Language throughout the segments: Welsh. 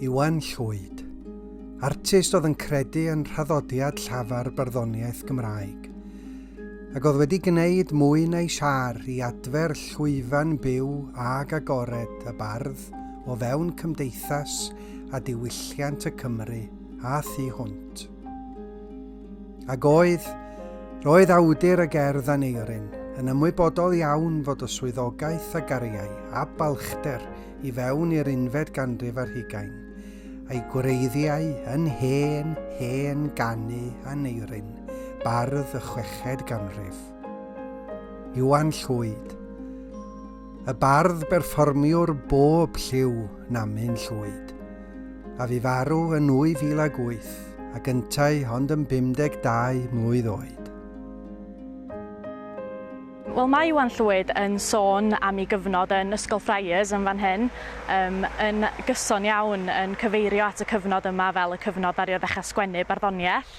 Iwan Llwyd, artist oedd yn credu yn rhaddodiad llafar barddoniaeth Gymraeg, ac oedd wedi gwneud mwy na'i siar i adfer llwyfan byw ag agored y bardd o fewn cymdeithas a diwylliant y Cymru a thu hwnt. Ag oedd, roedd awdur y gerdd Aneurin yn ymwybodol iawn fod y swyddogaeth a gariai a balchder i fewn i'r unfed ganrif ar hugain, a'i gwreiddiau yn hen, hen ganu Aneurin, bardd y chweched ganrif. Iwan Llwyd. Y bardd berfformiwr bob lliw Namin Llwyd, a fu farw yn 2008 ac yntau ond yn 52 mlwydd oed. Wel mae Iwan Llwyd yn sôn am ei gyfnod yn Ysgol Friars yn fan hyn, yym yn gyson iawn yn cyfeirio at y cyfnod yma fel y cyfnod ddaru o ddechrau sgwennu barddoniaeth,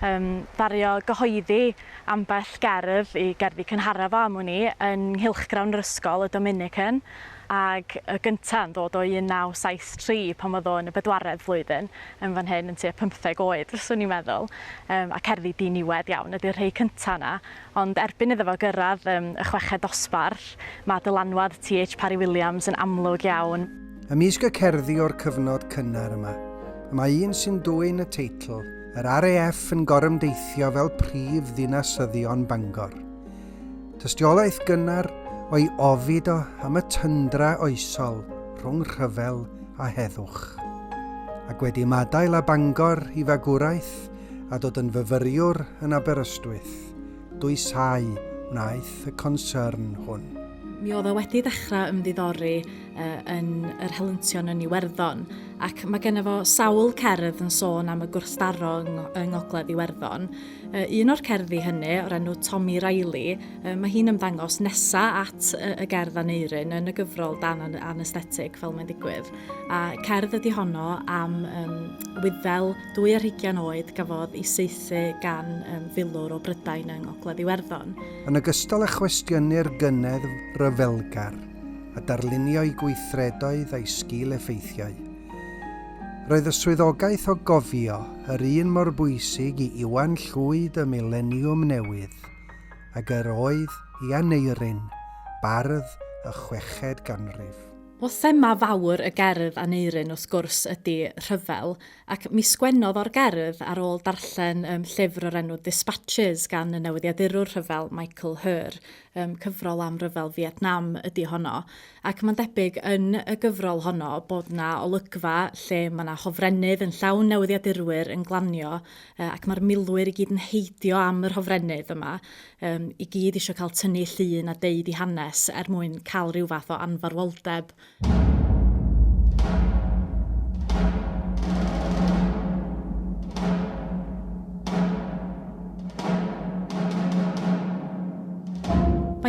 yym ddaru o gyhoeddi Ambell gerdd i gerddi cynharaf am wn i yn nghylchgrawn yr ysgol, y Dominican, ac y gynta' yn ddod o 1973 pan oedd o yn y bedwaredd flwyddyn, yn fan hyn yn tua pymtheg oed fyswn i'n meddwl, yym, a cerddi diniwed iawn ydy'r rhei cynta' 'na, ond erbyn iddo fo gyrradd yym y chweched dosbarth ma' dylanwad TH Parry Williams yn amlwg iawn. Ymysg y cerddi o'r cyfnod cynnar yma, y mae un sy'n dwyn y teitl, Yr RAF yn gorymdeithio fel prif ddinasyddion Bangor. Tystiolaeth gynnar o'i ofid o am y tyndra oesol rhwng rhyfel a heddwch. Ac wedi ymadael â Bangor i fagwraeth a dod yn fyfyriwr yn Aberystwyth, dwysau wnaeth y concern hwn. Mi oedd o wedi dechrau ymddiddori uh, yn yr helyntion yn Iwerddon ac mae gennym fo sawl cerdd yn sôn am y gwrthdaro yng Ngogledd Iwerddon. Uh, un o'r cerddi hynny, o'r enw Tommy Riley, uh, mae hi'n ymddangos nesa at uh, y gerdd aneiryn yn y gyfrol dan an anesthetig fel mae'n digwydd. A cerdd ydy honno am um, wyddel dwy ar hugian oed gafodd i seithi gan um, filwr o Brydain yng Ngogledd Iwerddon. Yn ogystal â chwestiynnu'r gynedd ryfelgar, a darlunio'i gweithredoedd a'i sgil-effeithiau. Roedd y swyddogaeth o gofio yr un mor bwysig i Iwan Llwyd y Mileniwm Newydd ag yr oedd i Aneurin, bardd y chweched ganrif. Wel, thema fawr y gerdd Aneurin, wrth gwrs, ydi rhyfel, ac mi sgwennodd o'r gerdd ar ôl darllen llyfr o'r enw Dispatches gan y newyddiadurwr rhyfel Michael Herr, um, cyfrol am ryfel Vietnam ydy honno. Ac mae'n debyg yn y gyfrol honno bod na olygfa lle mae na hofrennydd yn llawn newyddiadurwyr yn glanio uh, ac mae'r milwyr i gyd yn heidio am yr hofrennydd yma, um, i gyd eisiau cael tynnu llun a deud i hanes er mwyn cael rhyw fath o anfarwoldeb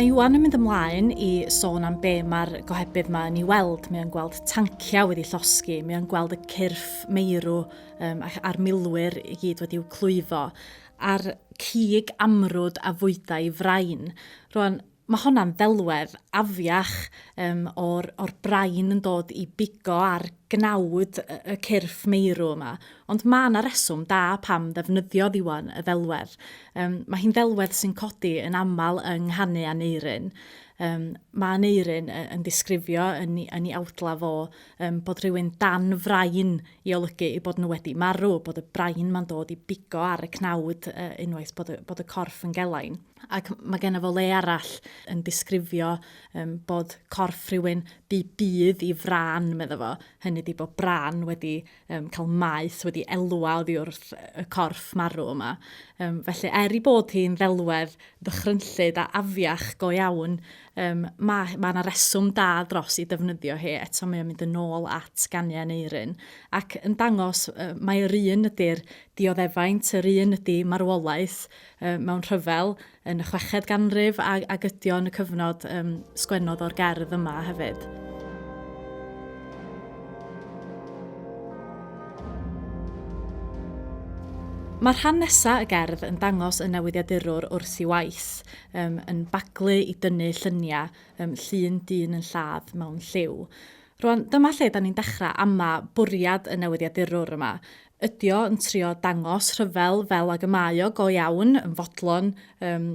Mae Iwan yn mynd ymlaen i sôn am be mae'r gohebydd yma yn ei weld. Mae o'n gweld tanciau wedi llosgi, mae o'n gweld y cyrff meirw um, a'r milwyr i gyd wedi i'w clwyfo, a'r cig amrwd a fwydau frain. Rwan, Mae honna'n ddelwedd afiach um, o'r, or brain yn dod i bigo ar gnawd y, y cyrff meirw yma. Ond mae yna reswm da pam ddefnyddio ddiwan y ddelwedd. Um, mae hi'n ddelwedd sy'n codi yn aml yng nghanu a neiryn. Um, mae Aneurin yn disgrifio yn ei, yn ei awdla fo um, bod rhywun dan frain i olygu i bod nhw wedi marw, bod y brain ma'n dod i bigo ar y cnawd uh, unwaith bod y, bod y corff yn gelain. ac mae genna fo le arall yn disgrifio um, bod corff rhywun bu bydd i fran, medda fo. Hynny di bod bran wedi um, cael maeth, wedi elwa oddi wrth y corff marw yma. Um, felly, er i bod hi'n ddelwedd ddychrynllyd a afiach go iawn, um, mae yna ma reswm da dros i defnyddio hi. Eto mae o'n mynd yn ôl at ganiau yn eirin. Ac yn dangos, uh, mae'r un ydy'r dioddefaint, yr un ydy marwolaeth, um, mewn rhyfel yn y chweched ganrif a, a gydio yn y cyfnod um, sgwennodd o'r gerdd yma hefyd. Mae'r rhan nesaf y gerdd yn dangos y newyddiadurwr wrth i waith, um, yn baglu i dynnu lluniau um, llun dyn yn lladd mewn lliw. Rwan, dyma lle da ni'n dechrau ama bwriad y newyddiadurwr yma. Ydi o yn trio dangos rhyfel fel ag y mae o go iawn yn fodlon um,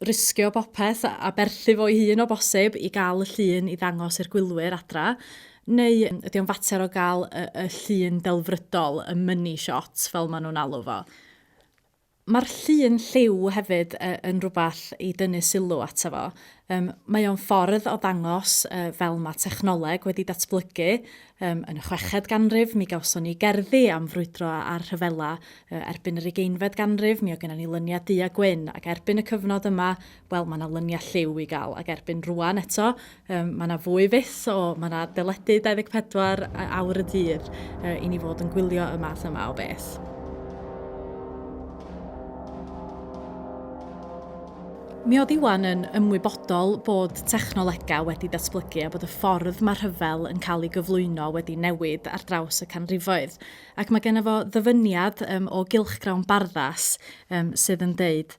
risgio bopeth a berthu fo'i hun o bosib i gael y llun i ddangos i'r gwylwyr adra? Neu ydy o'n fater o gael y, y llun delfrydol, y money shot fel maen nhw'n alw fo? Mae'r llun lliw hefyd yn rhywbeth i dynnu sylw ato fo. Mae o'n ffordd o ddangos fel mae technoleg wedi datblygu. Yn y chweched ganrif, mi gawson ni gerddi am frwydro a rhyfela. Erbyn yr ugeinfed ganrif, mi oedd gennym ni lyniau du a gwyn, ac erbyn y cyfnod yma, wel mae 'na lynia lliw i gael ac erbyn rwan eto um, mae 'na fwy fyth o mae 'na deledu 24 awr y dydd uh, i ni fod yn gwylio y math yma o beth. Mi oedd Iwan yn ymwybodol bod technolegau wedi datblygu a bod y ffordd mae rhyfel yn cael ei gyflwyno wedi newid ar draws y canrifoedd. Ac mae gennym fo ddyfyniad um, o gylchgrawn barddas um, sydd yn deud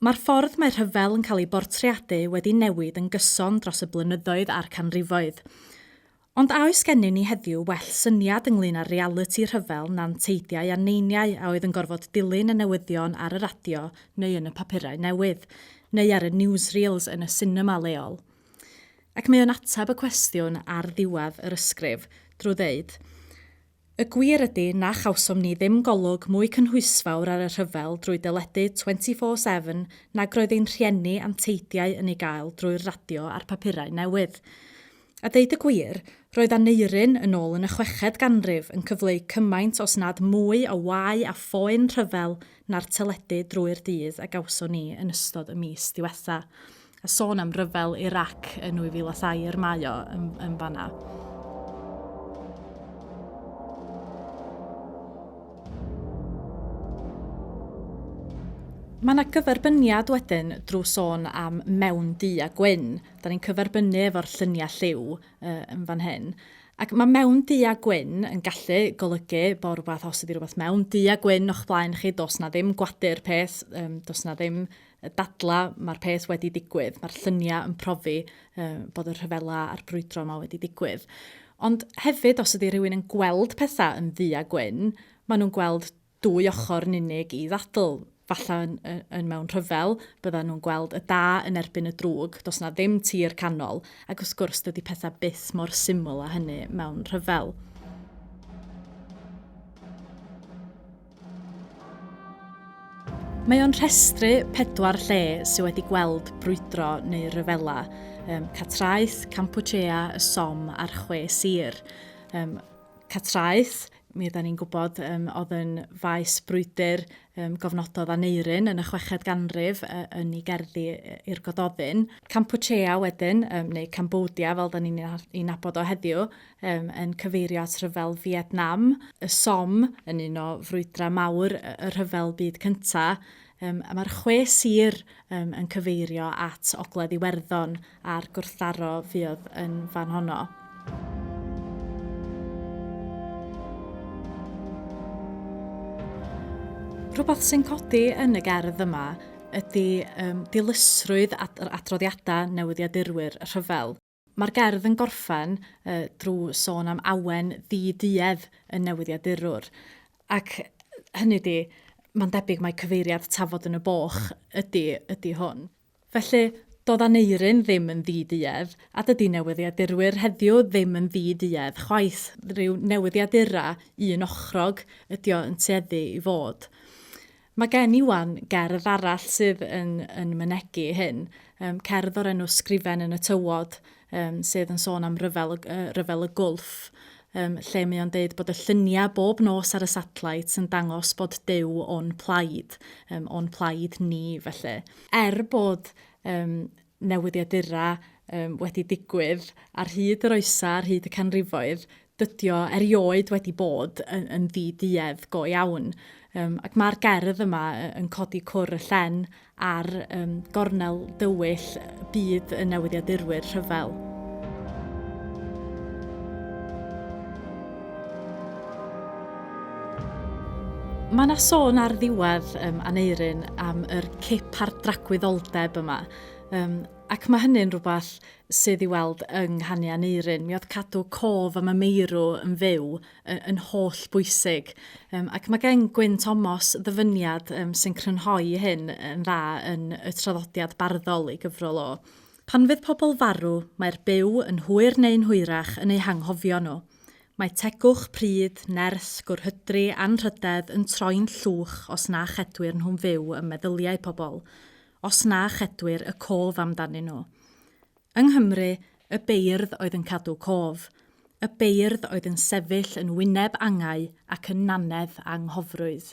Mae'r ffordd mae rhyfel yn cael ei bortreadu wedi newid yn gyson dros y blynyddoedd a'r canrifoedd. Ond a oes gennym ni heddiw well syniad ynglŷn â'r realiti rhyfel na'n teidiau a neiniau a oedd yn gorfod dilyn y newyddion ar y radio neu yn y papurau newydd, neu ar y newsreels yn y sinema leol? Ac mae o'n ateb y cwestiwn ar ddiwedd yr ysgrif drwy ddeud, Y gwir ydy na chawsom ni ddim golwg mwy cynhwysfawr ar y rhyfel drwy deledu 24 Seven nag roedd ein rhieni a'n teidiau yn ei gael drwy'r radio a'r papurau newydd. A deud y gwir, roedd Aneurin, yn ôl yn y chweched ganrif, yn cyfleu cymaint os nad mwy o wau a phoen rhyfel na'r teledu drwy'r dydd a gawson ni yn ystod y mis diwetha'. A sôn am ryfel Irac yn 2002, yr mae o yn, yn fanna. Mae yna gyferbyniad wedyn drwy sôn am mewn du a gwyn. Da ni'n cyferbynnu efo'r lluniau lliw uh, yn fan hyn. Ac mae mewn du a gwyn yn gallu golygu bod rhywbeth, os ydy rhywbeth mewn du a gwyn o'ch blaen chi, dos na ddim gwadu'r peth, um, dos na ddim y dadlau, mae'r peth wedi digwydd, mae'r lluniau yn profi uh, bod y rhyfela a'r brwydro yma wedi digwydd. Ond hefyd, os ydy rhywun yn gweld pethau yn ddu a gwyn, maen nhw'n gweld dwy ochr yn unig i ddadl. Falle yn, yn, yn mewn rhyfel, bydden nhw'n gweld y da yn erbyn y drwg, dos na ddim tir canol, ac wrth gwrs dydy pethau byth mor syml a hynny mewn rhyfel. Mae o'n rhestru pedwar lle sydd wedi gweld brwydro neu ryfela, um, Catraeth, Campuchea, y Som a'r Chwe Sir. Um, Catraeth, mi yda ni'n gwybod, um, oedd yn faes brwydr um, gofnododd Aneirin yn y chweched ganrif uh, yn ei gerddi i'r Gododdin. Campuchea wedyn, um, neu Cambodia fel da ni'n ei nabod o heddiw, um, yn cyfeirio at rhyfel Vietnam, y Som yn un o frwydrau mawr y rhyfel byd cynta, um, a mae'r chwe sir um, yn cyfeirio at Ogledd Iwerddon a'r gwrthdaro fuodd yn fan honno. Rhywbeth sy'n codi yn y gerdd yma ydy um, dilysrwydd ad adroddiadau newyddiadurwyr y rhyfel. Mae'r gerdd yn gorffen drwy sôn am awen ddi-duedd y newyddiadurwr, ac hynny ydi, mae'n debyg mai cyfeiriad tafod yn y boch ydi, ydi hwn. Felly, doedd Aneurin ddim yn ddi-duedd, a dydi newyddiadurwyr heddiw ddim yn ddi-duedd chwaith, rhyw newyddiadura un ochrog ydi o yn tueddu i fod. Mae gen i wan gerdd arall sydd yn, yn mynegi hyn, um, cerdd o'r enw Sgrifen yn y Tywod, um, sydd yn sôn am ryfel, uh, ryfel y gwlff, um, lle mae o'n deud bod y lluniau bob nos ar y satellite yn dangos bod dew o'n plaid, um, o'n plaid ni felly. Er bod um, newyddiadurau um, wedi digwydd ar hyd yr oesau, ar hyd y canrifoedd, dydio erioed wedi bod yn, yn ddi-duedd go iawn. Um, ac mae'r gerdd yma yn codi cwr y llen ar um, gornel dywyll byd y newyddiadurwyr rhyfel. Mae yna sôn ar ddiwedd um, Aneirin am yr cip a'r dragwyddoldeb yma. Um, ac mae hynny'n rhywbeth sydd i weld yng nghanu Aneirin. Mi oedd cadw cof am y meirw yn fyw yn, yn holl bwysig. Um, ac mae gen Gwyn Tomos ddyfyniad um, sy'n crynhoi hyn yn dda yn y traddodiad barddol ei gyfrol o. Pan fydd pobl farw, mae'r byw yn hwyr neu'n hwyrach yn eu hanghofio nhw. Mae tegwch, pryd, nerth, gwrhydri, anrhydedd yn troi'n llwch os na chedwir nhw'n fyw ym meddyliau pobl, os na chedwir y cof amdanyn nhw. Yng Nghymru, y beirdd oedd yn cadw cof. Y beirdd oedd yn sefyll yn wyneb angau ac yn nannedd anghofrwydd.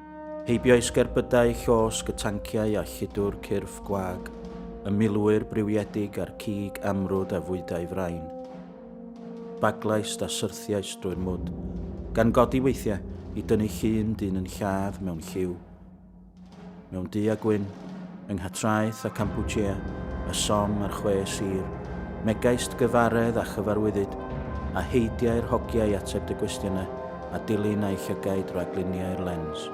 Heibio'i sgerbydau llosg y tanciau a lludw'r cyrff gwag, y milwyr briwiedig a'r cig amrwd a fwydau frain. Baglaist a syrthiais drwy'r mwd, gan godi weithiau i dynnu llun dyn yn lladd mewn lliw. Mewn du a gwyn, Yng Nghatraeth a Kampuchea, y Somme a'r Chwe Sir, megaist gyfaredd a chyfarwyddyd, a heidiai'r hogiau ateb dy gwestiynau a dilyn a'u llygaid rag luniau'r lens.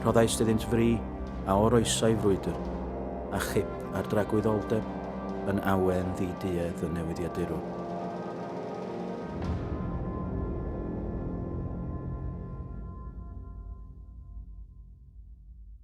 Rhoddaist iddynt fri a oroesai frwydr, a chip ar dragwyddoldeb yn awen ddi-duedd y newyddiadurwr.